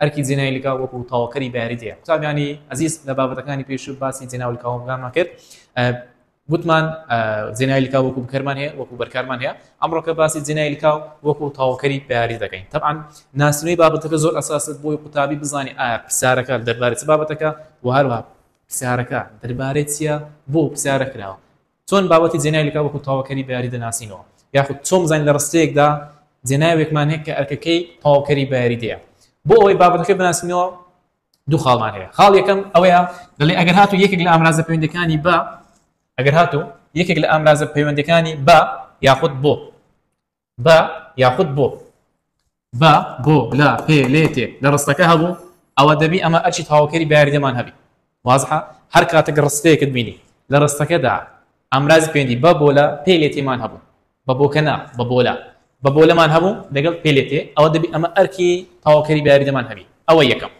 ئەرکی جێنای لکاو وەکو تەواوکەری بە یاریدەیە قوتابیانی ئەزیز لە بابەتەکانی پێشوو باسی جێناو لکاوەکانمان کرد وتمان جێنای لکاو وەکو بکەرمان هەیە وەکو بەرکارمان هەیە ئەمڕۆکە باسی جێنای لکاو وەکو تەواوکەری بە یاری دەکەین تەعاان ناسنەوەی بابەتەکە زۆر ئەساست بۆی قوتابی بزانانی ئایا پرسیارەکە دەربارەت بابەتەکە و هەروە پرسیارەکە دەربارەت چییە بۆ پرسیارە کراوە چۆن بابەتی جێناوێک لە وەکوو تەواوکەری بەیاری دەناسینەوە؟ یاخود چۆن بزانین لە ڕستەیەکدا جێناوێکمان هەیە کە ئەرکەکەی تەواوکەری بەیاری دەیە؟ بۆ ئەوەی بابەتەکە بناسینەوە دوو خاڵمان هەیە خاڵ یەکەم ئەوەیە دەڵێ ئەگەر هاتو یەکێک لە ئامرازە پەیوەندەکانی بە ئەگەر هاتو یەکێک لە ئامرازە پەیوەندەکانی بە یاخود بۆ بە یاخود بۆ بە بۆ لە پێ لێ تێ لە ڕستەکە هەبوو ئەوە دەبی ئەمە ئەرچی تاوکەری بەیاریدەمان هەبی وازحە هەر کاتێک ڕستەیەکت بینی لە ڕستەکەدا ئامرازی پێندی بە بۆ لە پێ لێ تێمان هەبوو بە بۆکە نا بە بۆ لە بە بۆ لەمان هەبوو لەگەڵ پێ لێ تێ ئەوە دەبی ئەمە ئەرکی تاوکەری بەیاریدەمان هەبی ئەوە یەکەم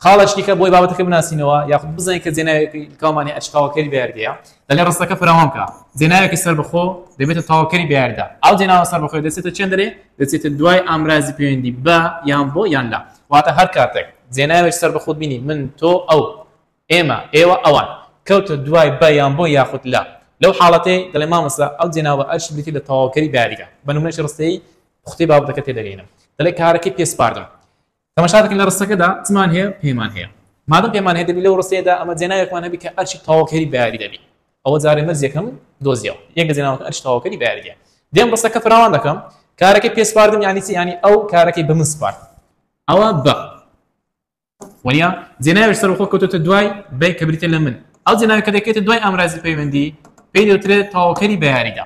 خاڵێکی دیکە بۆی بابەتەکە بناسینەوە یاخود بزانین کە جێناوێکی لکاومانی ئەشقاوەکەری بەیاردەیە دەلێ ڕستەکە فراوان بکە جێناوێکی سەربەخۆ دەبێتە تەواوکەری بەیاردا ئەو جێناوە سەربەخۆی دەچێتە چێندەرێ دەچێتە دوای ئامرازی پەیوەندی بە یان بۆ یان لە واتە هەر کاتێک جێناوێک سەربەخۆت بینی من تۆ ئەو ئێمە ئێوە ئەوان کەوتە دوای بە یان بۆ یاخود لە لەو حاڵەتی دەڵێ مامەسە ئەو جێناوە ئەرش بریتی لە تەواوکەری بەیاریدا بە نمونەش ڕستەی خوتی بابەتەکە تێدەگەینم دەڵێ کارەکەی پێسپاردم تەماشا دەکەین لە ڕستەکەدا چمان هەیە پێمان هەیە مادەم پێمان هەیە دەبی لەو ڕستەیەدا ئەمە جێناوێکمان هەبی کە ئەرچی تەواوکەری بەیاری دەبی ئەوە جارێ مەرجێکم دۆزیەوە یەک لە جێناوەکە ئەرچ تەواوکەری بەیاریە دێم ڕستەکە فراوان دەکەم کارەکەی پێ سپاردم یانی چی ینی ئەو کارەکەی بە من سپارد ئەوە بە وەنیا جێناوێش سەر خۆ کەوتۆتە دوای بەی کە بریتە لە من ئەو جێناوی کە دەکەێتە دوای ئامرازی پەیوەندی پێی دەوترێت تەواوکەری بەیاریدا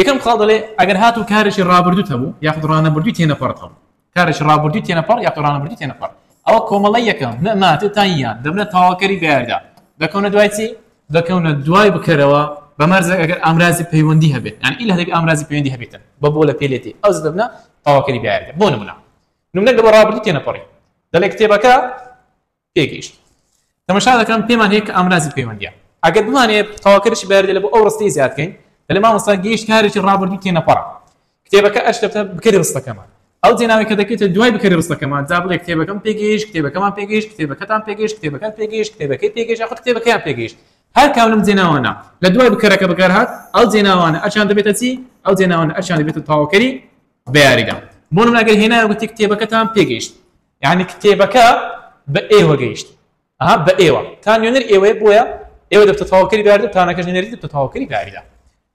یەکەم خاڵ دەڵێ ئەگەر هاتوو کارێکی ڕابردووت هەبوو یاخود ڕانەبردووی تێنەپەڕت هەبوو کارێکی ڕابردووی تێنەپەڕ یاخود ڕانەبردووی تێنەپەڕ ئەوە کۆمەڵە یەکەم نە ماتێ تا یان دەبنە تەواوکەری بەیاردا دەکەونە دوای چی دەکەونە دوای بکەرەوە بە مەرزێک ئەگەر ئامرازی پەیوەندی هەبێت یان ئیلا هەبێت ئامرازی پەیوەندی هەبێتن بە بۆ لە پێلێتی ئەو دەبنە تەواوکەری بەیاردا بۆ نمونە نمونە لە بە ڕابردوو تێنەپەڕی دەڵێ کتێبەکە پێگەیشت تەمەشا دەکەم پێمان هەیە کە ئامرازی پەیوەندیە ئەگەر بمانێ تەواکەرشی بەردێ لە بۆ ئەو ڕستەی زیاد بکەین دەلێ مامۆستا گەیشت کارێکی ڕابردوو تێنەپەڕە کتێبەکە ئەشکەتە بکەری ڕستەکەمان ئەو جێناوی کە دەکەیتە دوای بکەری ڕستەکەمان جا بڵێ کتێبەکەم پێگەیشت کتێبەکەمان پێگەیشت کتێبەکەتان پێگەیشت کتێبەکەت پێگەیشت کتێبەکەی پێگەیشت یاخود کتێبەکەیان پێگەیشت هەر کام لەم جێناوانە لە دوای بکەرەکە بەکارهات ئەو جێناوانە ئەشان دەبێتە چی ئەو جێناوانە ئەشان دەبێتە تەواوکەری بە یاریدا بۆ نمونە ئەگەر هێنایە گوتی کتێبەکەتان پێگەیشت یعنی کتێبەکە بە ئێوە گەیشت ئەها بە ئێوە تا نوێنەر ئێوەیە بۆیە ئێوە دەبتە تەواوکەری بارد و تانەکەش نوێنەری دەبتە تەواوکەری باریدا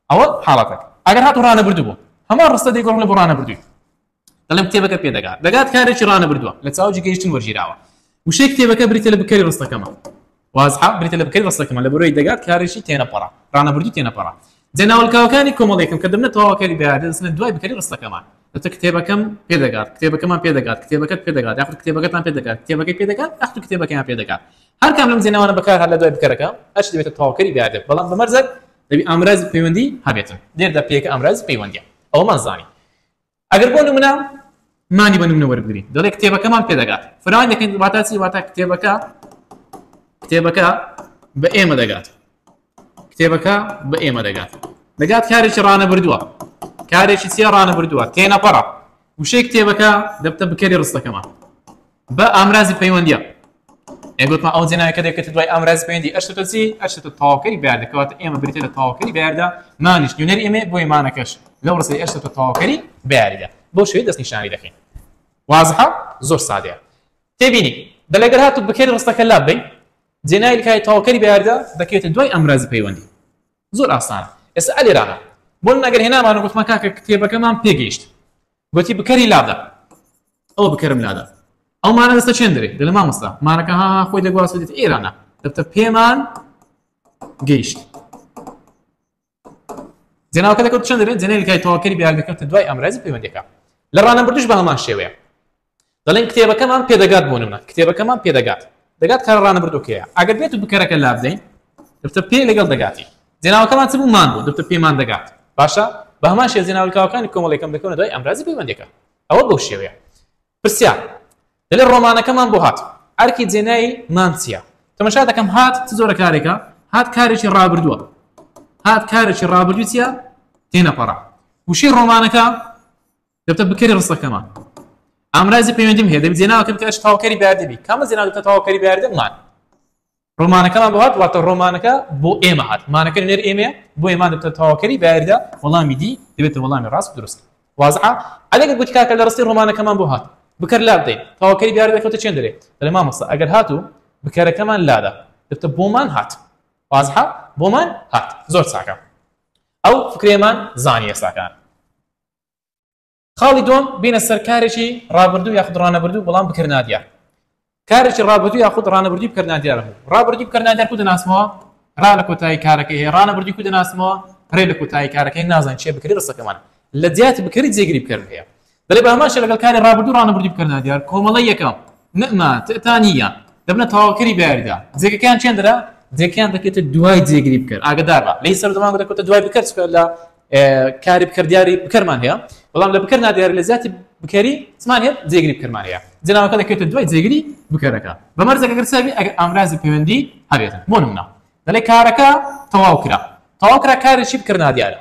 ئەوە حاڵەتەک ئەگەر هات و ڕانە بردو بوو هەمان ڕستە دەیگۆڕ لە بۆ ڕانە بردووی دەڵێم کتێبەکە پێ دەگات دەگات کارێکی ڕانە بردووە لە چاوجی گەیشتن وەرگیراوە وشەی کتێبەکە بریتە لە بکەری ڕستەکەمە وازحە، بریتە لە بکەری ڕستەکەمان، لەبەرەوەی دەگات کارێکی تێنەپەڕە، ڕانەبردووی تێنەپەڕە. جا ناوەلکاوەکانی کۆمەڵەیەکم کە دەبنە تەواوە کاری بەیار دەدەچنە دوای بکەری ڕستەکەمان. دەتە کتێبەکەم پێ دەگات، کتێبەکەمان پێ دەگات، کتێبەکەت پێ دەگات، یاخود کتێبەکەتان پێ دەگات، کتێبەکەی پێ دەگات، یاخود کتێبەکەیان پێ دەگات. هەر کام لەم جێناوانە بەکار هات لە دوای بکەرەکە، هەرچی دەبێتە تەواوکەری بەیاردێک، بەڵام بە مەرجێک دەبێ ئامرازی پەیوەندی هەبێتن. لێرەدا پێیەکە ئامرازی پەیوەندییە. ئەوەمان زانی. ئەگەر بۆ نمونە مانی بە نمونە وەربگرین دەڵێ کتێبەکەمان پێدەگات فراوان دەکەین واتا چی واتا کتێبەکە کتێبەکە بە ئێمە دەگات کتێبەکە بە ئێمە دەگات دەگات کارێکی ڕانە بردووە کارێکی چیە ڕانە بردووە تێنەپەڕە وشەی کتێبەکە دەبتە بکەری ڕستەکەمان بە ئامرازی پەیوەندیە ئەگوتمان ئەو جێناوی کە دەکەێت دوای ئامراز پێندی ئەشتە چی ئەشتە تاوکەی بەردەکەوات ئێمە بریتە لە تاوکەی بەردا مانیش نوێنەر ئێمە بۆی مانەکەش لەو ڕستی ئەشتە تاوکەری بەریدا بۆ شوێ دەست نیشانی دەکەین وازحە زۆر سادەیە تێبینی بەلەگەر هاتو بکەێت ڕستەکە لا بین جێنایلکای تاوکەری بەردا دەکەێتە دوای ئامرازی پەیوەندی زۆر ئاسانە ئێستا ئەلێرانە بۆ نەگەر هێنامان و گوتمە کاکە کتێبەکەمان پێگەیشت گوتی بکەری لادا ئەوە بکەرم لادا ئەو مانە دەستە چێن دەێت دە لە مامۆستا مانەکە ها خۆی دەگواست دێت ئێرانە دەبتە پێمان گەیشت جناوکە دەکەوت چند دەێت جنێل کای تەواکەری بیاگەکەتە دوای ئەمراز پەیوەندەکە لە ڕانە بردش بە هەمان شێوەیە دەڵێن کتێبەکەمان پێدەگات بۆ نمە کتێبەکەمان پێدەگات دەگات کارە ڕانەبردوکەیە ئەگەر بێت و بکەرەکە لا بدەین دەفتە پێ لەگەڵ دەگاتی جێناوەکەمان چ بوو مان بوو دەفتە پێمان دەگات باشە بە هەمان شێ جێناولکاوەکانی کۆمەڵێکم دەکەونە دوای ئەمرازی پەیوەندەکە ئەوە بەو شێوەیە پرسیار دەلێ ڕۆمانەکەمان بۆ هات ئەرکی جێنایی مانچیە تەمەشا دەکەم هات چ زۆرە کارێکە هات کارێکی ڕابردووە هات کارێکی ڕابردوویە تێنەپەڕە وشەی ڕۆمانەکە دەبتە بکەری ڕستەکەمان ئامرازی پەیوەندیم هەیە دەبی جێناوەکە بکەش تاوکەری باردەبی کامە جێنا دەبتە تاوکەری باردەمان ڕۆمانەکەمان بۆ هات واتە ڕۆمانەکە بۆ ئێمە هات مانەکە نێر ئێمە بۆ ئێمان دەبتە تاوکەری باردە وەڵامی دی دەبێتە وەڵامی ڕاست درست وازعە ئەلێک گوتی کاکە لە ڕستی ڕۆمانەکەمان بۆ هات بکەر لا بدەین تاوکەری دیار دەکەوتە چێن دەرێ دەێ مامەسە ئەگەر هاتوو بکەرەکەمان لادا دەبتە بۆمان هات وازحە بۆمان هات زۆر ساکە ئەو فکرێمان زانیە ساکان خاڵی دووەم بینە سەر کارێکی ڕابردوو یاخود ڕانەبردوو بەڵام بکرد نادیار کارێکی ڕابردوو یاخود ڕانەبردی بکرد نادیار بوو ڕابردی بکرد نادیار کو دەناسمەوە ڕا لە کۆتایی کارەکەی هەیە ڕانەبردی کو دەناسمەوە ڕێ لە کۆتایی کارەکەی نازان چێ بکری ڕسەکەمان لە دیات بکری جێگری بکرد هەیە دەێ باماشە لەگەڵ کاری ڕابردوو ڕانەبردی بکرد نادیار کۆمەڵی یەکەم نەما تتانە دەبنە تەواوکەری باردا جێگەکەیان چێندرا جێکیان دەکێتە دوای جێگری بکرد ئاگدارە لی سەر دەمان دەکەوتە دوای بکرد لە کاری بکەر دیاری بکەرمان هەیە بەڵام لە بکەر نادیار لە زیاتی بکەری چمان هەیە جێگری بکەرمان هەیە جناوەکە دەکەێتە دوای جێگری بکەرەکە بە مەرزەکەگەر ساوی ئەگەر ئامرازی پەیوەندی هەبێت بۆ منە دەڵێ کارەکە تەواو کرا تەواو کرا کارێکی بکەر نادیارە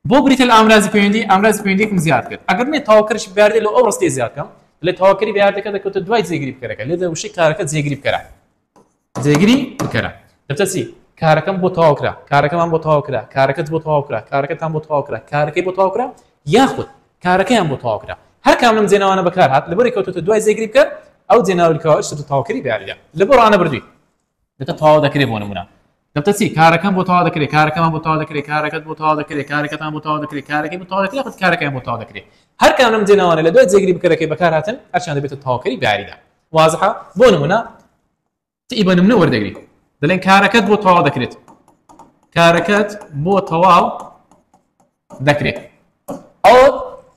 بۆ بریتە لە ئامرازی پەیوەندی ئامراز پەیوەندیکم زیاد کرد ئەگەر نێ تاواکەش بگاردێت لە ئەو ڕستی زیادکەم لە تاواکەری بەاردەکە دەکەوتە دوای جێگری بکەرەکە لێ دەوشی کارەکە جێگری بکەرە جێگری بکەرە دەبتە چی؟ کارەکەم بۆ تەواو کرا کارەکەمان بۆ تەواو کرا کارەکەت بۆ تەواو کرا کارەکەتان بۆ تەواو کرا کارەکەی بۆ تەواو کرا یاخود کارەکەیان بۆ تەواو کرا هەر کام لەم جێناوانە بەکار هات لەبەری کەوتوتە دوای جێگری بکەر ئەو جێناوی کەەوە شت تەواوکەری بیاریدا لە بۆ ڕانە بردووی دەکە تەواو دەکرێت بۆ نمونە دەبتە چی کارەکەم بۆ تەوا دەکرێت کارەکەمان بۆ تەوا دەکرێت کارەکەت بۆ تەوا دەکرێت کارەکەتان بۆ تەوا دەکرێت کارەکەی بۆ تەوا دەکرێت یاخود کارەکەیان بۆ تەوا دەکرێت هەر کام لەم جێناوانە لە دوای جێگری بکەرەکەی بەکار هاتن هەرچیان دەبێتە تەواوکەری بیاریدا وازحە بۆ نمونە تی بە نمونە وەردەگری دەڵێن کارەکەت بۆ تەوا دەکرێت کارەکەت بۆ تەواو دەکرێت ئەو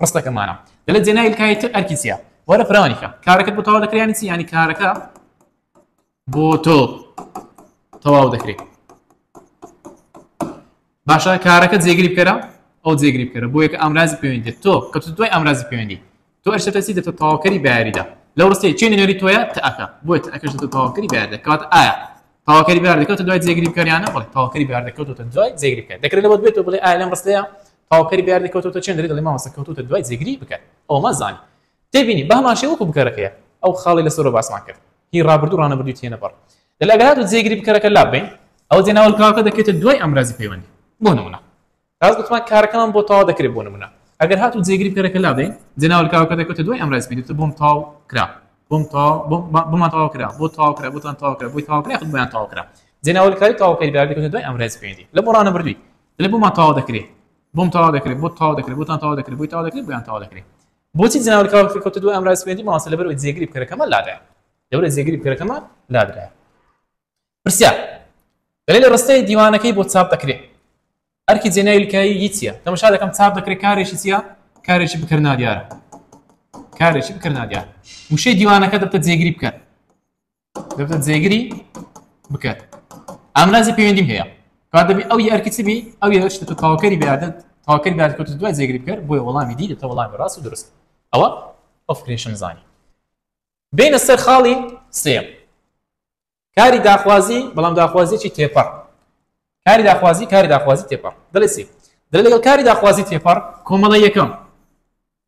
ڕستەکەمانە دەلێت جێنای کایتر ئەرکیسیە وەرە فراوانیکە کارەکەت بۆ تەوا دەکرێت یانی چی ینی کارەکە بۆ تۆ تەواو دەکرێت باشە کارەکە جێگری بکەرە ئەو جێگری بکەرە بۆ یەکە ئامرازی پەیوەندێت تۆ کە تو دوای ئامرازی پەیوەندی تۆ ئەشتەسی دەتە تەواوکەری بەیاریدا لەو ڕستی چێ نوێری تۆە تەکە بۆیت ئەکەش دەتە تەواوکەری بەیار دەکات ئایا تاواکەری بار دەکەوتە دوای جێگری بکەریانە بڵێ تاواکەری بار دەکەوتە دوای جێگری بکە دەکرێت لەوە بێت و بڵێ ئالم ڕستەیە تاواکەری بار دەکەوتە چێن دەری دڵی ماوەسە کەوتوتە دوای جێگری بکە ئەومە زانانی تێبینی، بەهەمان شێوە وەکو بکەرەکەیە ئەو خاڵەی لەسەرەوە باسمان کرد هی ڕابردوو ڕانەبردووی تێنە بەڕ دەل ئەگەر هاتوو جێگری بکەرەکە لاببەین ئەوە جێ ناوەل کراوەکە دەکەوێتە دوای ئامرازی پەیوەندی بۆ نمونە تاس گوتمان کارەکەمان بۆ تەوا دەکرێت بۆ نمونە ئەگەر هاتوو جێگری بکەرەکە لابەین جێ ناوەل کراوەکە دەکەوێتە دوای ئامرازی پێدێت بۆم تاو کرا بۆم تا بۆمان تەوا کرا بۆ تاو کرا بۆتان تاو کرا بۆی تاو کرا خود بۆیان تاو کرا جێ ناوەل کاری تاوکەی بار دەکەوێتە دوای ئامرازی پەیوەندی لە بۆ ڕانەبردووی لە بۆمان تەوا دەکرێت بۆم تەوا دەکرێت بۆ تاو دەکرێت بۆتان تەوا دەکرێت بۆی تاو دەکرێت بۆیان تاو دەکرێت بۆچی جەنابت کاوە کە کەوتە دوای ئەم ڕایسپێندی مامۆستا لەبەرەوەی جێگری بکەرەکەمە لادرایە لەبەرەوەی جێگری بکەرەکەمە لادرایە پرسیار دەلێ لە ڕستەی دیوانەکەی بۆ چاپ دەکرێت ئەرکی جێنای لکایی یچیە تەمەشا دەکەم چاپ دەکرێت کارێکی چییە کارێکی بکەر نادیارە کارێکی بکەر نادیار وشەی دیوانەکە دەبتە جێگری بکەن دەبێت جێگری بکات ئامرازی پەیوەندیم هەیە کار دەبی ئەو یارکی چ بی ئەو یارشتە تۆ تاوکەری بەیادت تاوکەری بەیاد کۆتە دوای جێگری بکەر بۆیە وەڵامی دی دەتە وەڵامی ڕاست و درست ئەوە ئۆفکرێشن زانی بینە سەر خاڵی سێم کاری داخوازی بەڵام داخوازیی تێپەڕ کاری داخوازی کاری داخوازی تێپەڕ دەڵێ سی دەڵێ لەگەڵ کاری داخوازی تێپەڕ کۆمەڵە یەکەم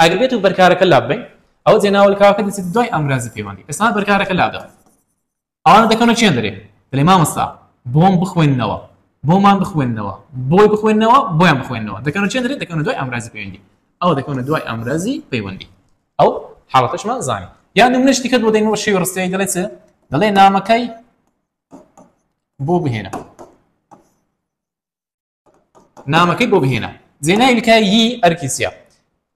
ئەگەر بێتو بەرکارەکە لاببەین ئەوە جێناولکاوەکە دەچێت دوای ئامرازی پەیوەندی ئێستا بەرکارەکە لادەن ئەوانە دەکەونە چێن دەرێ دەێ مامەستا بۆم بخوێنەوە بۆمان بخوێنەوە بۆی بخوێنەوە بۆیان بخوێنەوە دەکەنە چێن دەرێ دەکەونە دوای ئامرازی پەیوەندی ئەوە دەکەونە دوای ئامرازی پەیوەندی ئەو حاڵەتەشمان زانانی یان منش دیکە بۆ دەینەوە شێوی ڕستەیە دەڵێت دەڵێ نامەکەی بۆ بهێنە نامەکەی بۆ بهێنە جێ ناوی لکایی ئەرکی چیە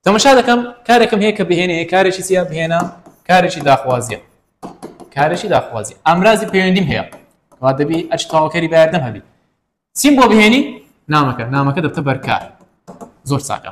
تەمەشا دەکەم کارێکم هەیە کە بهێنێ کارێکی چیە بهێنە کارێکی داخوازیە کارێکی داخوازی ئامرازی پەیوەندیم هەیە وا دەبی ئەچ تاواکەری باردەم هەبی چیم بۆ بهێنی نامەکە نامەکە دەبتە بەرکار زۆر ساکە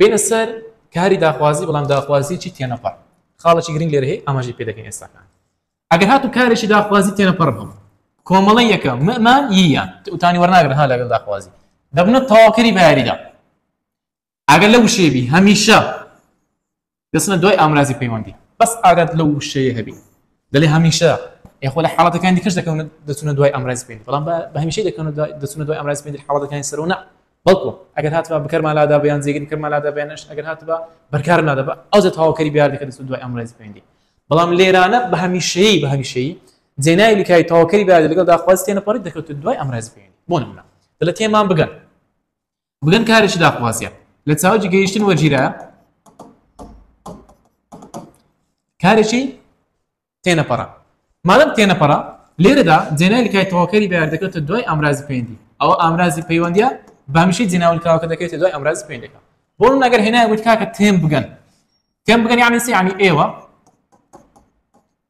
بینە سەر کاری داخوازی بەڵام داخوازیی تێنەپەڕ خاڵێکی گرنگ لێرە هەیە ئاماژی پێ دەکەین ئێستاکان ئەگەر هاتو کارێکی داخوازی تێنەپەڕ بم کۆمەڵی یەکە مەمان یە وتانی وەرناگرن ها لەگەڵ داخوازی دەبنە تەواوکەری بەیاریدا ئەگەر لە وشێبی هەمیشە دەچنە دوای ئامرازی پەیوەندی بەس ئاگات لەو وشەیە هەبی دەلێ هەمیشە یخۆ لە حاڵەتەکانی کەش دەکەون دەچونە دوای ئامرازی پێنج بەڵام بە هەمیشەی دەکەن دەچونە دوای ئامرازی پێنج حاڵەتەکانی سەرەوە نە بەڵکو ئەگەر هاتبا بکەرمالادا بیان جێگر بکەرمالادا بێنش ئەگەر هاتبا بەرکار نادەبا ئەو جە تەواوکەری بیار دەکە دەچون دوای ئامرازی پێندی بەڵام لێرانە بە هەمیشەیی بە هەمیشەیی جێنای لکای تەواوکەری بیار لەگەڵ داخوازی تێنەپەڕی دەکەوت دوای ئامرازی پێندی بۆ نمونە دەلە تێمان بگەن بگەن کارێکی داخوازیە لە چاوجی گەیشتن وەجیرە کارێکی تێنەپەڕە مادەم تێنەپەڕە لێرەدا جێنای لکای تەواوکەری بەیار دەکەێتە دوای ئامرازی پێندی ئەوە ئامرازی پەیوەندە بامیشەی جێناولکاوەکە دەکەێتە دوای ئامرازی پێندەکە بۆ نەگەر هێنای وت کاکە تێم بگەن تێم بگەن یانی سیانی ئێوە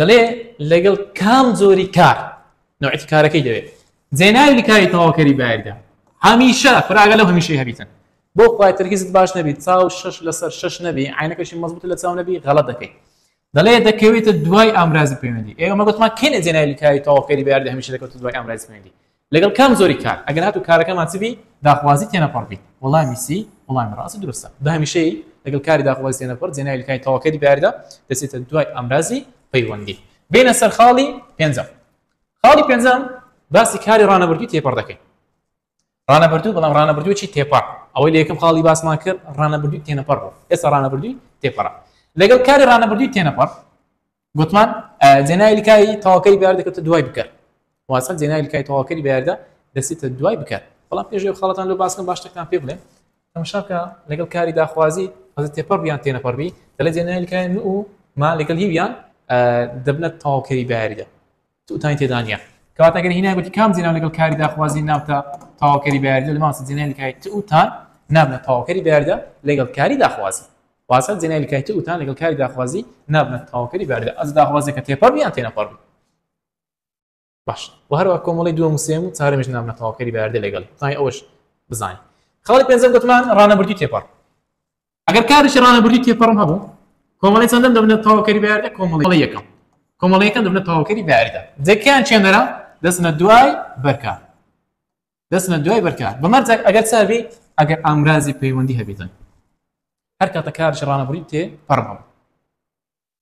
دەڵێ لەگەڵ کام جۆری کار نوعەتی کارەکەی دەوێت جێناوی کاری تەواوکەری بایردا هەمیشە فراگە لەو هەمیشەی هەبیتن بۆ خخوای ترکیزت باش نەبی چاو شش لەسەر شش نەبی عینەکەشی مەزبوط لە چاو نەبی غەڵە دەکەیت دەڵێ دەکەوێتە دوای ئامرازی پەیوەندی ئێمە گوتمان کێنە جێناوی کاری تەواوکەری بایردا هەمیشە دەکەوت دوای ئامرازی پەیوەندی لەگەڵ کام جۆری کار ئەگەر هاتوو کارەکەمان چ بی داخوازی تێنەپەڕ بیت؟ وەڵامی سی، وەڵامی ڕاست و دروستە. بە هەمیشەیی لەگەڵ کاری داخوازی تێنەپەڕ جێناوی لە کانی تەواوکەری بەیاردا دەچێتە دوای ئامرازی پەیوەندی. بێینە سەر خاڵی پێنجەم. خاڵی پێنجەم باسی کاری ڕانەبردووی تێپەڕ دەکەین. ڕانەبردوو بەڵام ڕانەبردوویی تێپەڕ ئەوەی لە یەکەم خاڵی باسمان کرد ڕانەبردووی تێنەپەڕ بوو ئێستا ڕانەبردووی تێپەڕە لەگەڵ کاری ڕانەبردووی تێنەپەڕ گوتمان جێناوی لکاوی تەواوکەری بەیار دەکەوتە دوای بکەر واتە جێناوی لکاوی تەواوکەری بەیاردا دەچێتە دوای بکەر بەڵام پێش خەڵەتان لەو باسکەم باش شتێکتان پێ بڵێم تەماشاکە لەگەڵ کاری داخوازی ئەز تێپەڕ بیان تێنەپەڕبی دەڵێ جێناوی لکاوی و ما لەگەڵ هیویان دەبنە تەواوکەری بەیاریدا سوتانی تێدا نیە کەواتە گەر هینای گوتی کام زیناو لەگەڵ کاری داخوازی نابتە تەواوکەری بە یاریدە لەماوەسە زینای لکای ت و تان نابنە تەواوکەری بە یاریدە لەگەڵ کاری داخوازی واسە زینای لکای ت و تان لەگەڵ کاری داخوازی نابنە تەواوکەری بە یاریدە ئەز داخوازی کە تێپەڕ بیان تێنەپەڕ بی باش و هەروە کۆمەڵی دووەم و سێم و چارەمیش نابنە تەواوکەری بە یاریدە لەگەڵ تای ئەوش بزانین خاڵی پێنجەم گوتمان ڕانەبردی تێپەڕ ئەگەر کارێکی ڕانەبردووی تێپەڕم هەبوو کۆمەڵی چەندەم دەبنە تەواوکەری بە یاریدا کۆمەڵی یەکەم کۆمەڵی یەکەم دەبنە تەواوکەری بە یاریدا جەکیان چێنەرە دەچنە دوای بەرکار دەچنە دوای بەرکار بە مەرجێک ئەگەر چابی ئەگەر ئامرازی پەیوەندی هەبێتن هەر کاتە کارش ڕانەبڕی تێ پەڕبم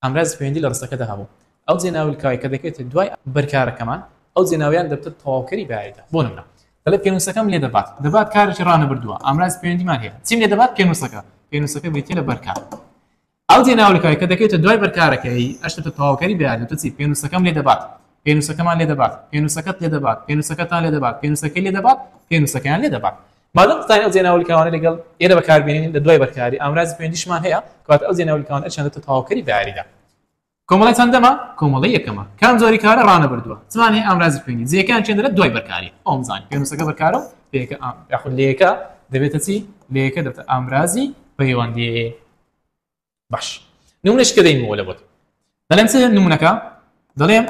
ئامرازی پەیوەندی لە ڕستەکەدا هەبوو. ئەو جێناولکاوەی کە دەکەوێتە دوای بەر کارەکەمان، ئەو جێناویان دەبتە تەواوکەری بەیاریدا. بۆ نمونە دەڵێ پێنووسەکەم لێ دەبات. دەبات کارێکی ڕانەبردووە. ئامرازی پەیوەندیمان هەیە. چیم لێ دەبات؟ پێنووسەکە. پێنووسەکە بریتییە لە بەر کار. ئەو جێناولکاوەی کە دەکەوێتە دوای بەر کارەکەی، ئەش دەبتە تەواوکەری بەیاری. دەبتە چی؟ پێنووسەکەم لێ دەبات. پێنووسەکەمان لێ دەبات. پێنووسەکەت لێ دەبات. پێنووسەکەتان لێ دەبات. پێنووسەکەی لێ دەبات. پێنووسەکەیان لێ دەبات. مادەم دەتوانین ئەو جێناولیکاوانەی لەگەڵ ئێرە بەکاربێنین لە دوای بەرکاری ئامرازی پەیوەندیشمان هەیە کەواتە ئەو جێناولیکاوان ئەچێنێتە تەواوکەری بەیاریدا کۆمەڵی چەندەمە کۆمەڵی یەکەمە کام جۆری کارە ڕانەبردووە زمان هەیە ئامرازی پەیوەندی جێکان چێندرە دوای بەرکاری ئەوم زان پێنووسەکە بەکارە و پێکە ئام یاخود لەیەکە دەبێتە چی لەیەکە دەبێتە ئامرازی پەیوەندی باش نمونەش کە دەینمەوە لە بۆت دەڵێن چ نمونونەکە دەڵێن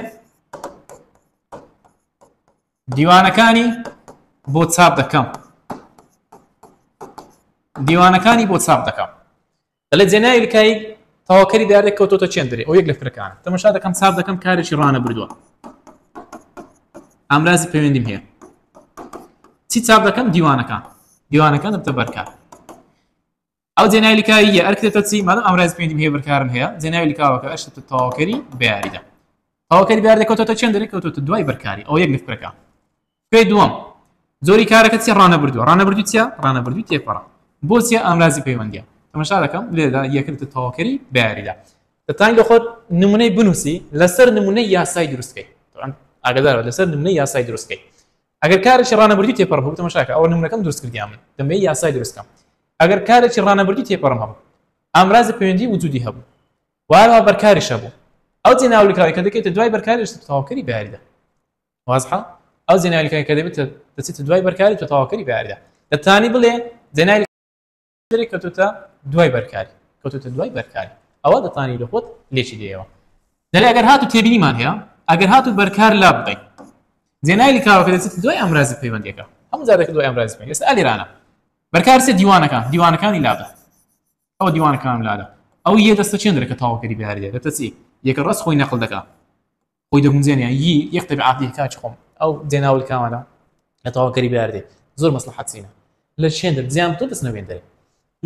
دیوانەکانی بۆ چاپ دەکەم دیوانەکانی بۆ چاپ دەکەم دەڵێ جێناوی لکایی تەواکەری دارێک کەوتۆتە چێندرێ ئەو یەک لە فرەکان تەمەشا دەکەم چاپ دەکەم کارێکی ڕانە بردووە ئامرازی پەیوەندیم هەیە چی چاپ دەکەم دیوانەکان دیوانەکان دەبتە بەرکار ئەو جێناوی لکاویە ئەر کرێتە چی مادەم ئەمراز پێنجم هەیە بەرکارم هەیە جێناوی لکاوەکە ئەشت تەواوکەری بیاریدا تەواوکەری بیار دەکەوتەوە چێن دەرێ کەوتوتە دوای بەرکاری ئەو یەک لفکرەکە پێ دووەم زۆری کارەکە چی ڕانەبردووە ڕانەبردو چە ڕانەبردوی تێپەڕە بۆچیە ئامرازی پەیوەندە تەمەشا دەکەم لێدا یەکردە تەواوکەری بیاریدا دەتانی لە خۆت نمونەی بنووسی لەسەر نمونەی یاسای دروستکەی ئاگدارەوە لەسەر نمونەی یاسای دروستکەی ئەگەر کارێکی ڕانەبردی تێپەڕ بوو تەمەشا کە ئەوە نمونەکەم دروست کردیان من دەمەوێت یاسای دروست کەم ئەگەر کارێکی ڕانەبردی تێپەڕم هەبوو ئامرازی پەیوەندی وجودی هەبوو وارەوە بەرکاریش هەبوو ئەو جێناولیکراوی کە دەکەیتە دوای بەرکاریش تەواوکەری بەیاریدا وازحە ئەو جێناولیکای کە دەبێت دەچێتە دوای بەرکاری تۆ تەواوکەری بەیاریدا دەتانی بڵێ جێناوی درێ کەوتوتە دوای بەرکاری کەوتوتە دوای بەرکاری ئەوە دەتانی لە خۆت لێکی دێەوە دەێ ئەگەر هاتو تێبینیمان هەیە ئەگەر هاتو بەرکار لا بڵێ زێنای لکاوەکە دەچێت دوای ئەمرازی پەیوەندەکە هەم زارەکە دوای ئەمراز پێ ئێستا ئەلیرانە بەرکارسێ دیوانەکان دیوانەکانی لابە ئەو دیوانەکان لادە ئەو یە دەستە چێندرەکە تاواکەری بارێ دەتەچی یەکە ڕست خۆی نەقل دەکە خۆی دەگونجێنێ ی یەک تەبعات دیه کاکی خۆم ئەو جێناول کامانە لە تەواوکەری بەیاردێ زۆر مەسڵەحات سینە لە چێن دەر جیان تۆ دەسنە وێن دەرێ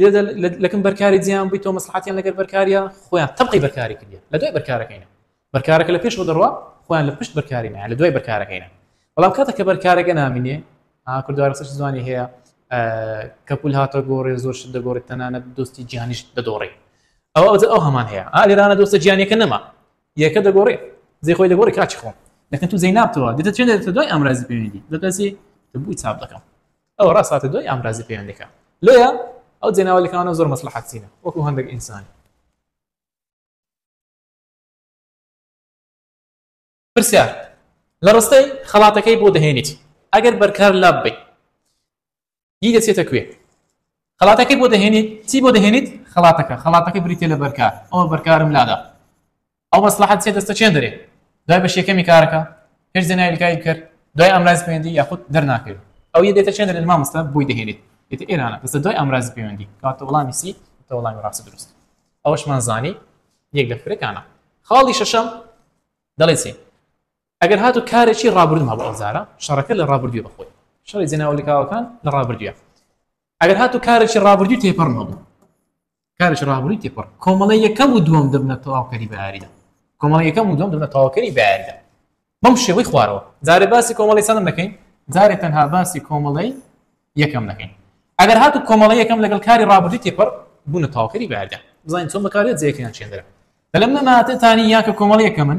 لێدە لەکم بەرکاری جیان بووی تۆ مەسڵحاتیان لەگەر بەرکاریە خۆیان تەبقی بەرکاری کردە لە دوای بەرکارەکەینە بەرکارەکە لە پێشەوە دەڕوا خۆیان لە پشت بەرکاری نایە لە دوای بەرکارەکەینە بەڵام کاتە کە بەرکارەکە نامینێ کوردوارەسەش زوانی هەیە کەپول هاتە گۆڕێ زۆر شت دەگۆڕێت تەنانەت دۆستی جیانیش دەدۆڕێ ئەو ئەوجە ئەو هەمان هەیە ئالێرانە دۆستە جیانەکە نەما یەکە دەگۆڕێ زی خۆی دەگۆڕی کاچی خۆم لەکە تو زەی نابتەوە دێتە چێن دێتە دوای ئامرازی پەیوەندی دەتەسی بووی چاپ دەکەم ئەو ڕاستاتە دوای ئامرازی پەیوەندەکە لێە ئەو جێناوەلەکانە زۆر مەسلحەتینە وەکو هەندێک ئینسان پرسیار لە ڕستەی خەڵاتەکەی بۆ دەهێنیت ئەگەر بەرکار لاب بی ی دەچێتە کوێ خەڵاتەکەی بۆ دەهێنیت چی بۆ دەهێنیت خەڵاتەکە خەڵاتەکە بریتە لە بەرکار ئەوە بەرکارم لادا ئەو مەسلحەت چێ دەستە چێن دەرێ دوای بە شێکەمی کارەکە پێش زێناوی کاری کرد دوای ئەمراز پەیوەندی یاخود دەرناکرێت ئەو یە دێتە چێن دەرێت مامۆستا بۆی دەهێنیت دێتە ئێرانە دەستە دوای ئەمراز پەیوەندی کاتە وڵامی سی تە وڵامی ڕاستە دروست ئەوشمان زانی یەک لە فرەکانە خاڵی شەشەم دەڵێ چی ئەگەر هاتو کارێکی ڕابردوم هەبوو ئەو زارە شەڕەکە لە ڕابردوێ بەخۆی شەڕی جێناوە لکاوەکان لە ڕابردوێ ئەگەر هاتو کارێکی ڕابردوی تێپەڕم هەبوو کارێکی ڕابردوی تێپەڕ کۆمەڵە یەکەم و دووەم دەبنە تەواوکەری بەیاریدا کۆمەڵە یەکەم و دووەم دەبنە تەواوکەری بەیاریدا بەم شێوەی خوارەوە جارێ باسی کۆمەڵی سەدەم دەکەین جارێ تەنها باسی کۆمەڵەی یەکەم دەکەین ئەگەر هاتو کۆمەڵە یەکەم لەگەڵ کاری ڕابردوی تێپەڕ بوونە تەواوکەری بەیاریدا بزانین چۆن بەکارێت جێکیان چێندرا لەم نەماتێتانی یاکە کۆمەڵی یەکەمن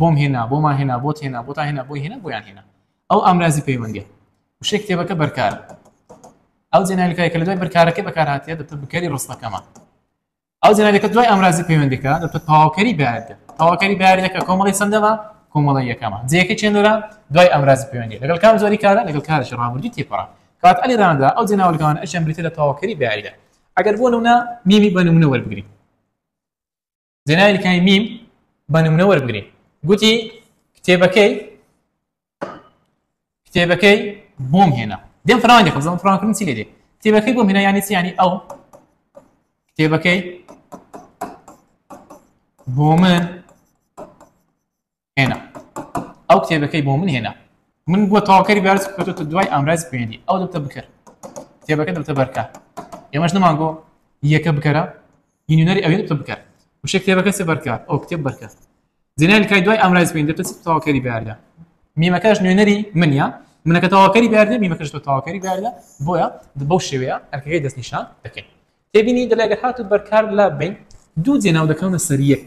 بۆم هێنا، بۆمان هێنا، بۆت هێنا، بۆتان هێنا، بۆی هێنا، بۆیان هێنا. ئەو ئامرازی پەیوەندییە. وشەی کتێبەکە بەرکار. ئەو جێناویکای کە لە دوای بەرکارەکەی بەکارهاتیە دەبێت بکەری ڕستەکەمان. ئەو جێناویەکە دوای ئامرازی پەیوەندیەکە دەبێت تەواوکەری بەیاریدە. تەواوکەری بەیاریدەکە کۆمەڵی چەندەمە کۆمەڵە یەکەمە. جێەکە چێنەرە دوای ئامرازی پەیوەندی لەگەڵ کام جۆری کارە لەگەڵ کارێکی ڕابردووی تێپەڕە. کات ئەلی ڕاندا ئەو جێناوەلگەوان ئەشیان بریتە لە تەواوکەری بەیاریدە. ئەگەر بۆ نمونە میمی بە نمونە وەربگرین. زێنای کای میم بە نمونە وەربگرێ گوتی کتێبەکەی کتێبەکەی بۆم هێنا دێم فرانگە خزم فرانکردن چی لێ کتێبەکەی بۆم هێنا یانی چیانی ئەو کتێبەکەی بۆ من هێنا ئەو کتێبەکەی بۆ من هێنا من بۆ تاواکەری بارز بکەوتە دوای ئامراز پێێنی ئەو دەبتە بکەر کتێبەکە دەبتە بەرکە ئێمەش نەمان گۆ یەکە بکەرە یونیەری ئەوێ دەبتە بکەر وشە کتێبەکە سێ بەرکە ئەو کتێب بەرکە زینای کای دوای ئامراز پێین دەبتە تاواکەری باردا میمەکەش نوێنەری منە منەکە تاواکەری باردێ میمەکەش تۆ تاواکەری باردە بۆیە بەو شێوەیە ئەرکەکەی دەستنیشان دەکەین تێبینی دەلێگە هاتو بەرکار لا بین دوو جێناو دەکەونە سەر یەک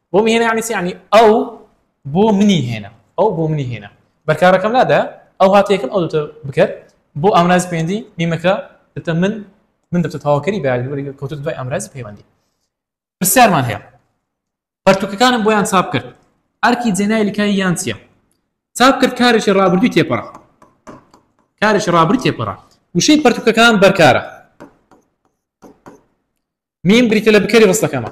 بۆ مهێنە یعنی چی یعنی ئەو بۆ منی هێنا ئەو بۆ منی هێنا بەرکارەکەم نادا ئەو هاتە یەکەم ئەو دوتە بکەر بۆ ئامراز پێندی میمەکە دەتە من من دەتە تاواکەری بەیاری کەوتە دوای ئامرازی پەیوەندی پرسیارمان هەیە پەرتوکەکانم بۆیان چاپ کرد ئەرکی جێنای لکای یان چییە چاپ کرد کارێکی ڕابردوی تێپەڕ کارێکی ڕابری تێپەڕ وشەی پەرتوکەکان بەرکارە میم بریتە لە بکەری ڕستەکەمە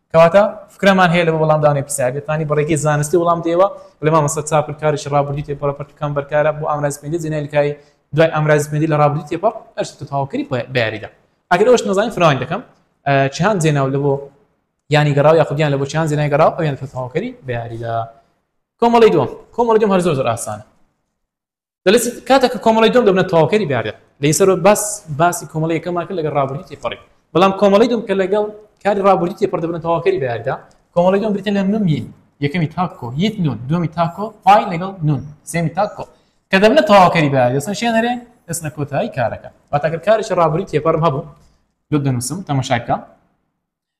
کەواتە فکرەمان هەیە لە وەڵامدانەوەی پرسیار گەر توانی بە ڕێگەی زانستی وەڵام بدەیەوە بڵێ مامۆستا چاپل کارێکی ڕابردووی تێپەڕ لە پەرتووک کام بەرکارە بۆ ئامرازی پەیوەندی جێنای لکایی دوای ئامرازی پەیوەندی لە ڕابردووی تێپەڕ ئەر چیتر تەواوکەری بە یاریدا ئەگەر ئەوەش نەزانین فراوانی دەکەم چیهان جێناو لە بۆ یانی گەڕاو یاخود یان لە بۆ چیهان جێنای گەڕاو ئەویان تەواوکەری بە یاریدا کۆمەڵی دووەم کۆمەڵی دووەم هەر زۆر زۆر ئاسانە دەڵێت کاتێک کە کۆمەڵەی دوم دەبنە تەواوکەری بارێت لەی سەر باس باسی کۆمەڵی یەکەمان کرد لەگەڵ ڕابردووی تێپەڕی بەڵام کۆمەڵی دوم کە لەگەڵ کاری ڕابردووی تێپەڕ دەبنە تەواوکەری باردا کۆمەڵی دوم بریتە لە نومی یەکەمی تاکۆ یت نون دومی تاکۆ پای لەگەڵ نون سێمی تاکۆ کە دەبنە تەواوکەری بار دەستن شێنەرێ دەستنە کۆتایی کارەکە واتاگەر کارێکی ڕابردووی تێپەڕم هەبوو لۆ دەنووسم تەمەشاکە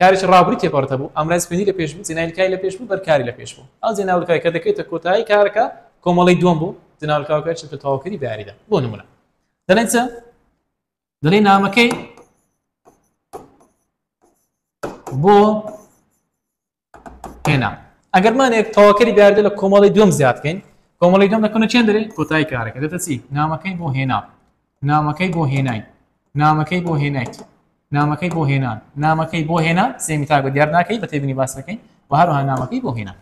کارێکی ڕابووری تێپەڕت هەبوو، ئامرازی خوێندی لە پێش بوو، جێناینکای لە پێش بوو، بەرکاری لە پێش بوو. ئەو جێناولکاوەی کە دەکەوێتە کۆتایی کارەکە، کۆمەڵەی دووەم بوو، جێناولکاوەکە چونکە تەواوکەری بە یاریدا. بۆ نموونە دەڵێن چ؟ دەڵێن نامەکەی بۆ هێنا. ئەگەر مانێک تەواوکەری بە یاریدا لە کۆمەڵەی دووەم زیاد بکەین، کۆمەڵەی دووەم دەکەونە چەند دەرێ؟ کۆتایی کارەکە دەتە چی؟ نامەکەی بۆ هێنا. نامەکەی بۆ هێنای. نامەکەی بۆ هێنایت. نامەکەی بۆ هێنان. نامەکەی بۆ هێنا سێمی تاک بە دیار ناکەی بە تێبینی باس دەکەین و هەروەها نامەکەی بۆ هێنا.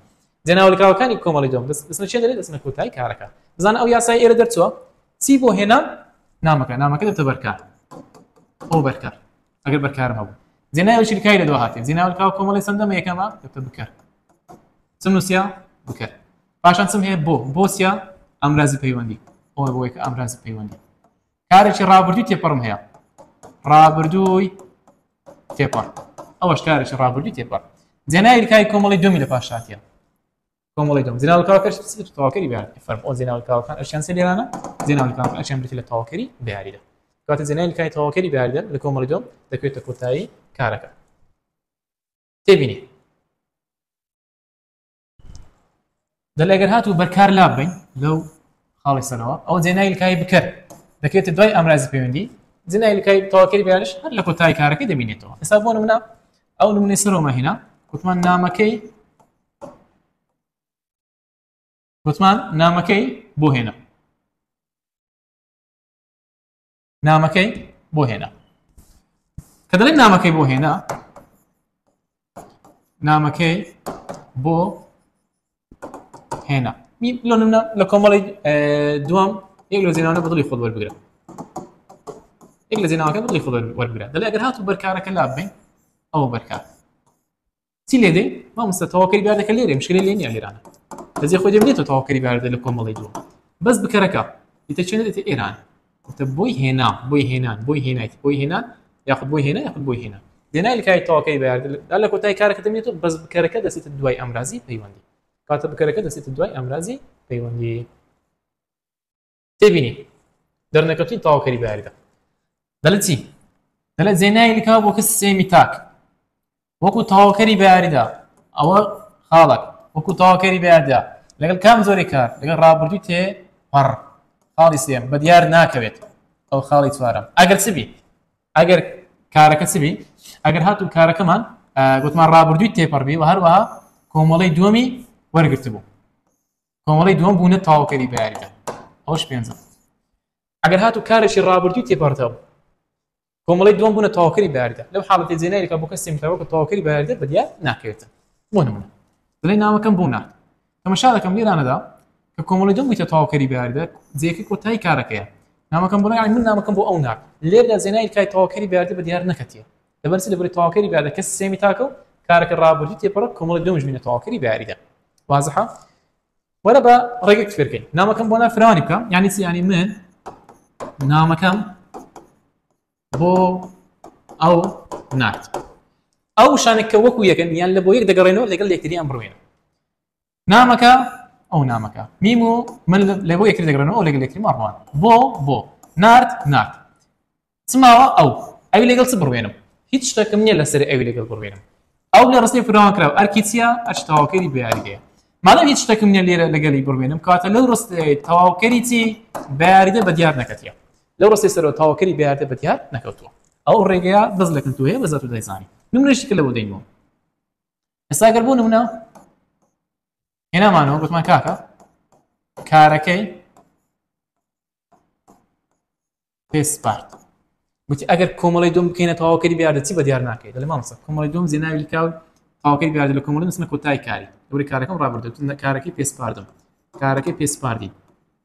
جێناولکاوەکانی کۆمەڵی دوم دەست دەستنە چێ دەلێت دەستنە کۆتایی کارەکە. بزانە ئەو یاسای ئێرە دەرچووە چی بۆ هێنا نامەکە نامەکە دەبتە بەرکار ئەو بەرکار ئەگەر بەرکارم هەبوو جێناوی چیلکای لە دو هاتێ جێناولکاو کۆمەڵی سندەمە یەکەمە دەبتە بکەر چم نووسیا بکەر پاشان چم هەیە بۆ بۆسیە ئەمرازی پەیوەندی ئەوە بۆی کە ئەمرازی پەیوەندی کارێکی ڕابردووی تێپەڕم هەیە ڕابردووی تێپەڕ ئەوەش کارێکی ڕابردووی تێپەڕ جێناوی کاری کۆمەڵی دومی لە پاشاتە کۆمەڵی دوم جناوکەکەش تەواکەری بیان فەرم ئەو جناوکەکان ئەشیان سێ لێرانە جناوکان ئەشیان بێت لە تەواکەری بیاریدا کاتە جنای کاری تەواکەری بیاریدا لە کۆمەڵی دوم دەکوێتە کۆتایی کارەکە تێبینی دەڵێ گەر هاتوو بەرکار لا بین لەو خاڵی سەرەوە ئەو جێنایلکای بکەر دەکرێتە دوای ئامرازی پەیوەندی جنایلکای تەواکەری بیانش هەر لە کۆتای کارەکە دەبینێتەوە ئێستا بۆ منە ئەو نمونی سەرۆمە هینا کوتمان نامەکەی کوتمان نامەکەی بۆ هێنا نامەکەی بۆ هێنا کە دەڵێن نامەکەی بۆ هێنا نامەکەی بۆ هێنا لۆ نمە لە کۆمەڵی دوام یەک لە زێنانە بەدڵی خۆ وەربگرە یەک لە زێناوەکە بڵی خۆ وەربگرە دەڵێ ئەگەر هاتو بەرکارەکە لابێ ئەو بەرکار چی لێ دەین مامۆستا تەواوکەری بارەکە لێرە مشکلە لێ نیە ئێرانە بەجێ خۆی دێت تەواوکەری بارەدە لە کۆمەڵی دووە بەس بکەرەکە دیتە چێن دێتە ئێران تە بۆی هێنا بۆی هێنان بۆی هێنایت بۆی هێنان یاخود بۆی هێنا یاخود بۆی هێنا دێنای لکای تەواوکەری بارەدە لە کۆتای کارەکە دەمێت بەس بکەرەکە دەسێتە دوای ئەمرازی پەیوەندی کاتە بکەرەکە دەسێتە دوای ئەمرازی پەیوەندی تێبینی دەرنەکەوتین تەواوکەری بە یاریدا دەڵێت چی دەڵێت زێنای لکا بۆ کەس سێمی تاک وەکو تەواوکەری بە یاریدا ئەوە خاڵک وەکو تەواوکەری بە یادا لەگەڵ کام زۆری کار لەگەڵ ڕابردوو تێ پەڕ خاڵی سێم بە دیار ناکەوێت ئەو خاڵی چوارم ئەگەر چ بی ئەگەر کارەکە چ بی ئەگەر هاتو کارەکەمان گوتمان ڕابردووی تێپەڕبی و هەروەها کۆمەڵی دووەمی وەرگرت بوو کۆمەڵی دووەم بوونە تاوکەری بەیاریدا ئەوش پێنجە ئەگەر هاتو کارێکی ڕابردووی تێپەڕدا بوو کۆمەڵی دووەم بوونە تاوکەری بەیاریدا لەو حاڵەتی جێنایەکە بۆ کەسێک تاوە کە تاوکەری بەیاریدا بەدیار ناکەوێتن بۆ نمونە دڵی ناوەکەم بوو نات تەمەشا دەکەم لێرانەدا کە کۆمەڵی دوم بیتە تاوکەری بەیاریدا جێکی کۆتایی کارەکەیە نامەکەم بڵێ من نامەکەم بۆ ئەو ناک لێردا جێنای کای تاوکەری بەیاردە بە دیار نەکەتیە لەبەر چی لەبەر تەواوکەری بە یادەکە سێمی تاکە و کارەکە ڕابردوو تێپەڕە کۆمەڵی دوم ژمینە تەواوکەری بە یاریدا وازحە وەرە بە ڕێگەک فێرکەین نامەکەم بۆ نافراوانی بکەم یانی چی ینی من نامەکەم بۆ ئەو نات ئەو شانێککە وەکو یەکەن یان لە بۆ یەک دەگەڕێنەوە لەگەڵ لەکتری ئەم بڕوێنە نامەکە ئەو نامەکە میم و من لە بۆ یەکتر دەگرن ئەو لەگەل یەکتری ماڕوان بۆ بۆ نارد نارد چماوە ئەو ئەوی لەگەڵ چ بڕوێنم هیچ شتەکەم نییە لەسەر ئەوی لەگەڵ بڕوێنم ئەو لە ڕستی فراوان کرا ئەرکی چیە ئەرش تەواوکەری بیاریدەیە مادەم هیچ شتەکەم نیە لێرە لەگەلی بڕوێنم کاتە لەو ڕست تەواوکەری چی بیاریدە بە دیار نەکەتە لەو ڕستی سەرەوە تاوکەری بیاردە بە دیار نەکەوتووە ئەو ڕێگەیە بەس لەکن توێ بەزات و دەیزانانی نمرشی کە لەوە دەینەوە ئێستا گەر بوو نمونە هێنامانەوە گوتمان کاکە کارەکەی پێ سپارت وتی ئەگەر کۆمەڵی دوم بکەینە تەواوکەری بیاردە چی بە دیار ناکەیت لە مامسە کۆمەڵی دوم زیێناوی کاو تاوکەی بیاردە لە کۆمەڵی نسمە کۆتای کاری دووری کارەکەم ڕابردو کارەکەی پێسپاردم کارەکەی پێسپاردی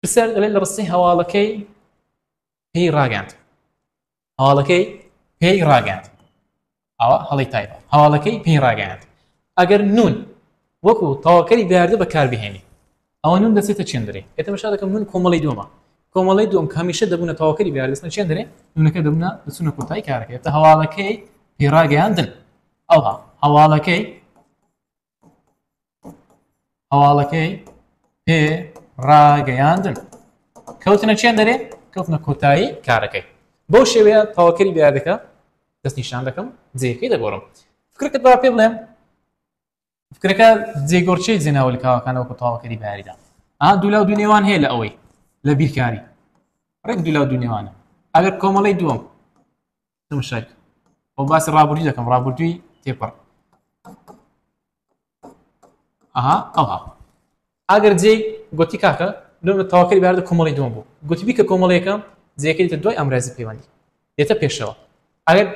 پرسیار دەڵێت لە ڕستی هەواڵەکەی پێی ڕاگەاند هەواڵەکەی پێی ڕاگەاند ئەوە هەڵی تایبە هەواڵەکەی پێی ڕاگەاند ئەگەر نون وەکو تەواکەری دیاردە بەکاربهێنی ئەوە نون دەچێتە چێندرێ ئێتە بەشا دەکەم نون کۆمەڵی دومە کۆمەڵی دوم کامیشە دەبوونە تەواکەری دیاردەستە چێندرێ نونەکە دەبوونە دەچونە کۆتای کارەکە تا هەواڵەکەی پێڕاگەیاندن ئەوها هەواڵەکەی هەواڵەکەی پێ ڕاگەیاندن کەوتنە چێن دەرێ کەوتنە کۆتایی کارەکەی بۆ شێوەیە تەواکەری دیادەکە دەست نیشان دەکەم جێەکەی دەگۆڕم فکرکە با پێ بڵێم فکرەکە جێگۆرچەی جێناوە لە کاوەکانەوە کە تەواکەری باریدا ئا دولا و دونێوان هەیە لە ئەوەی لە بیرکاری ڕێک دولا و دونێوانە ئەگەر کۆمەڵی دووەم تمشک ئەو باسی ڕابردوی دەکەم ڕابردووی تێپەڕ ئەها ئەوها ئەگەر جێ گوتی کاکە لۆ تاواکەری باردە کۆمەڵی دوم بوو گوتی بیکە کۆمەڵەکە جێکەیتە دوای ئەمرازی پەیوەندی دێتە پێشەوە ئەگەر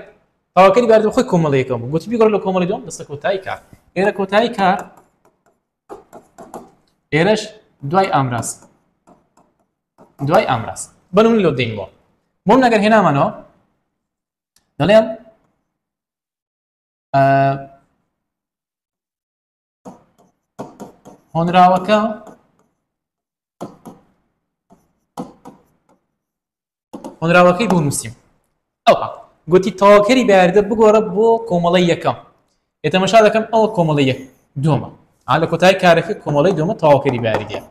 تاواکەری باردە خۆی کۆمەڵەکەم بوو گوتی بیگەڕ لە کۆمەڵی دوم دەستە کۆتایی کار ئێرە کۆتایی کار ئێرەش دوای ئامراز دوای ئامراز بەنمونە لۆ دەین وۆڵ بۆم نەگەر هێنامانەوە دەڵێم هۆنراوەکە هۆنراوەکەی بۆ نووسیم ئەوا گۆتی، تەواوکەری بەیاردە بگۆڕە بۆ کۆمەڵەی یەکەم، ئێ تەمەشا دەکەم ئەوە کۆمەڵەی یەک دووەمە، ئا لە کۆتایی کارەکە کۆمەڵەی دووەمە تەواوکەری بەیاریدەیە،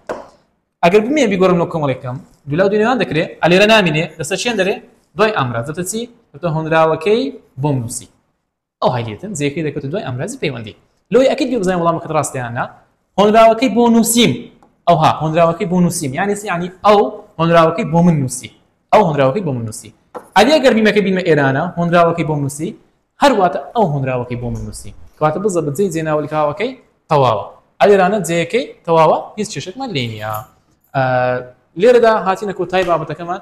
ئەگەر بمەوێ بیگۆڕم لۆ کۆمەڵەی یەکەم، دوولاو دووی نێوان دەکرێ، ئا لێرە نامینێ، دەستە چیان دەرێ، دوای ئامراز، دەتەچی، دەتە هۆنراوەکەی بۆم نووسی. ئەو هەلیەتن جێکەی دەکەوتە دوای ئامرازی پەیوەندی لۆی ئەکەیت گوێبزانی وەڵامەکەت ڕاستە یان نا هۆنراوەکەی بۆ نووسیم ئەوها هۆنراوەکەی بۆ نووسیم یانی چی یانی ئەو هۆنراوەکەی بۆ من نووسی ئەو هۆنراوەکەی بۆ من نووسی ئەدی ئەگەر بیمەکە بیمە ئێرانە هۆنراوەکەی بۆ نووسی هەرواتە ئەو هۆنراوەکەی بۆ من نووسی کەواتە بزە بە جێی جێناوەلکاوەکەی تەواوە ئەلێرانە جێیەکەی تەواوە هیچ کێشێکمان لێ نییە لێرەدا هاتینە کۆتای بابەتەکەمان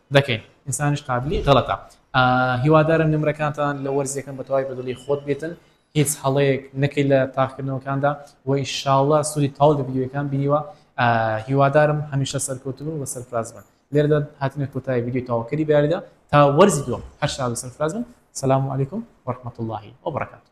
دەکەین ئینسانیش قابلی غەڵەتە. هیوادارم نمرەکانتان لە وەرز یەکەم بەتەواوی بەدڵی خۆت بێتن هیچ هەڵەیەک نەکەی لە تاقیکردنەوەکاندا وە ئیشاڵڵا سودی تەواو لە ڤیدیۆیەکان بینیوە هیوادارم هەمیشە سەرکەوتوبن و سەرفراز بن لێرەدا هاتینە کۆتایی ڤیدیۆی تەواوکەری بەیاریدا تا وەرزی دووەم هەر شاد و سەرفراز بن سلام علیکم ورحمەتوڵڵاهی وبەڕەکاتوو.